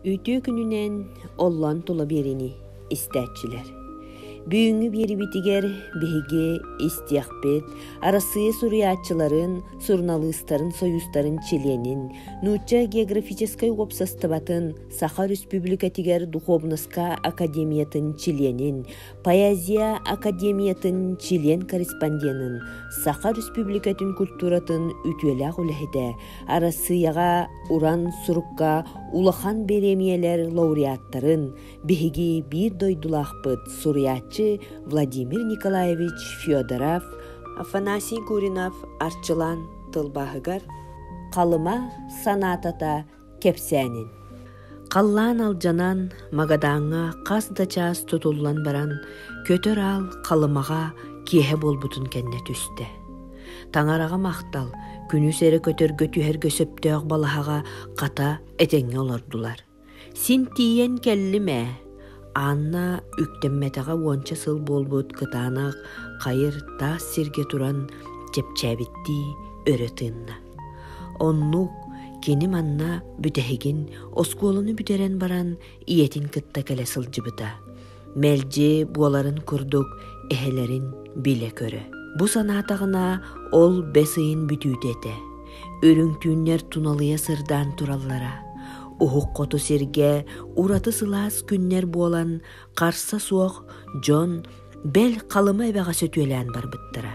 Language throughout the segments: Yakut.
Үтүө күнүнэн оллон тула биэриини истээччилэр. Бүгүҥҥү биэрибитигэр биһиги истиэхпит Арассыыйа суруйааччыларын, суруналыыстарын сойуустарын чилиэнин, нуучча географическай уопсастыбатын Саха Өрөспүүбүлүкэтигэр духуобунаска академиятын чилиэнин, Поэзия академиятын член-корреспонденын, Саха Республикатын культуратын үтүөлээх үлэһитэ, Арассыыйаҕа уран сурукка улахан бириэмийэлэр лауреаттарын, биһиги биир дойдулаахпыт суруйааччы Владимир Николаевич Федоров, Афанасий Гуринов арчылаан тылбааһыгар Халыма санаатата кэпсээнин. Халлаан алдьанан, Магадааҥҥа хас да чаас тутуллан баран, көтөр аал Халымаҕа киэһэ буолбутун кэннэ түстэ. Таҥараҕа махтал, күнүс эрэ көтөргө түһэргэ сөптөөх балаһаҕа хата этэҥҥэ олордулар. Син тиийэн кэллим ээ. Анна үктэммэтэҕэ уонча сыл буолбут кытаанах хайыр таас сиргэ туран чэпчээбиттии өрө тыынна. Оннук кини манна бүтэһигин оскуоланы бүтэрэн баран ийэтин кытта кэлэ сылдьыбыта. Мэлдьи буоларын курдук эһэлэрин билэ-көрө. Бу санаатаҕына ол бэс ыйын бүтүүтэ этэ. Үрүҥ түүннэр туналыйа сырдаан тураллара. Уһук хоту сиргэ ураты сылаас күннэр буолан, харса суох дьон бэл Халыма эбэҕэ сөтүөлээн барбыттара.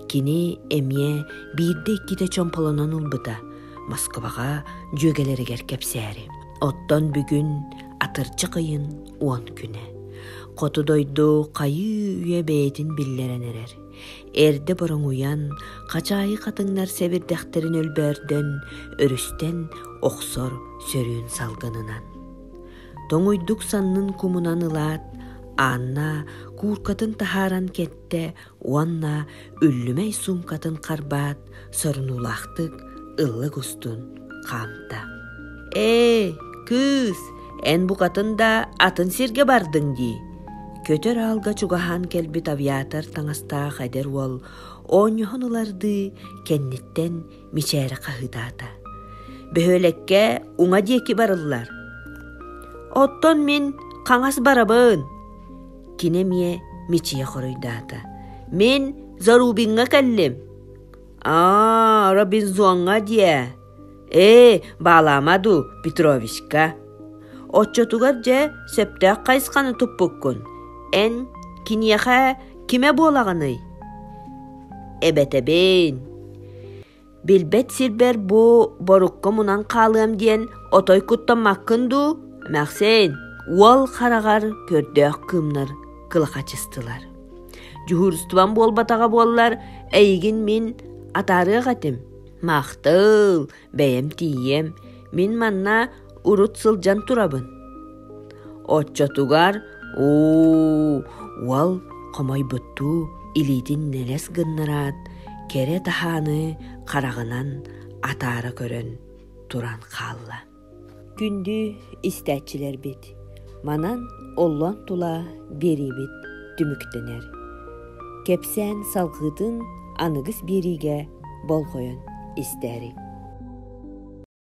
Кини эмиэ биирдэ-иккитэ чомполонон ылбыта, Москваҕа дьүөгэлэригэр кэпсээри. Оттон бүгүн атырдьах ыйын уон күнэ. Хоту дойду хайыы үйэ бэйэтин биллэрэн эрэр. эрдэ бороҥуйан хачаайы хатыҥнар сэбирдэхтэрин өлбөөрдөн өрүстэн охсор сөрүүн салгынынан тоҥуйдук саннын кумунан ылаат Анна кууркатын таһааран кэттэ уонна үллүмэй суумкатын харбаат сорунуулаахтык ыллык устун хаамта ээ кыыс эн букатын да атын сиргэ бардыҥ дии көтөр аалга чугаһаан кэлбит авиатор таҥастаах эдэр уол оонньоһон ылардыы кэнниттэн мичээри хаһыытаата бөһүөлэккэ уҥа диэки барыллар оттон мин хаҥас барабын кини эмиэ мичийэ хоруйдаата мин зарубиҥҥа кэллим аа робинзоҥҥа диэ ээ баалаама дуу петровичка оччотугар дьэ сөптөөх хайысханы туппуккун эн киниэхэ кимэ буолаҕыный эбэтэбин билбэт сирбэр бу борукку мунан хаалыам диэн отой куттаммаккын дуу эмэхсин уол хараҕар көрдөөх кыымнар кылахачыстылар Дьуһуурустубам буолбатаҕа буоллар, эйигин мин атаарыах этим. Махтал, бэйэм тиийиэм, мин манна урут сылдьан турабын. Оччотугар оо уол хомойбуттуу илиитин нэлэс гыннараат кэрэ таһааны хараҕынан атаара көрөн туран хаалла. Күндү истээччилэрбит, манан оллон тула биэриибит түмүктэнэр. Кэпсээн салҕыытын аныгыс биэриигэ болҕойон истээриҥ.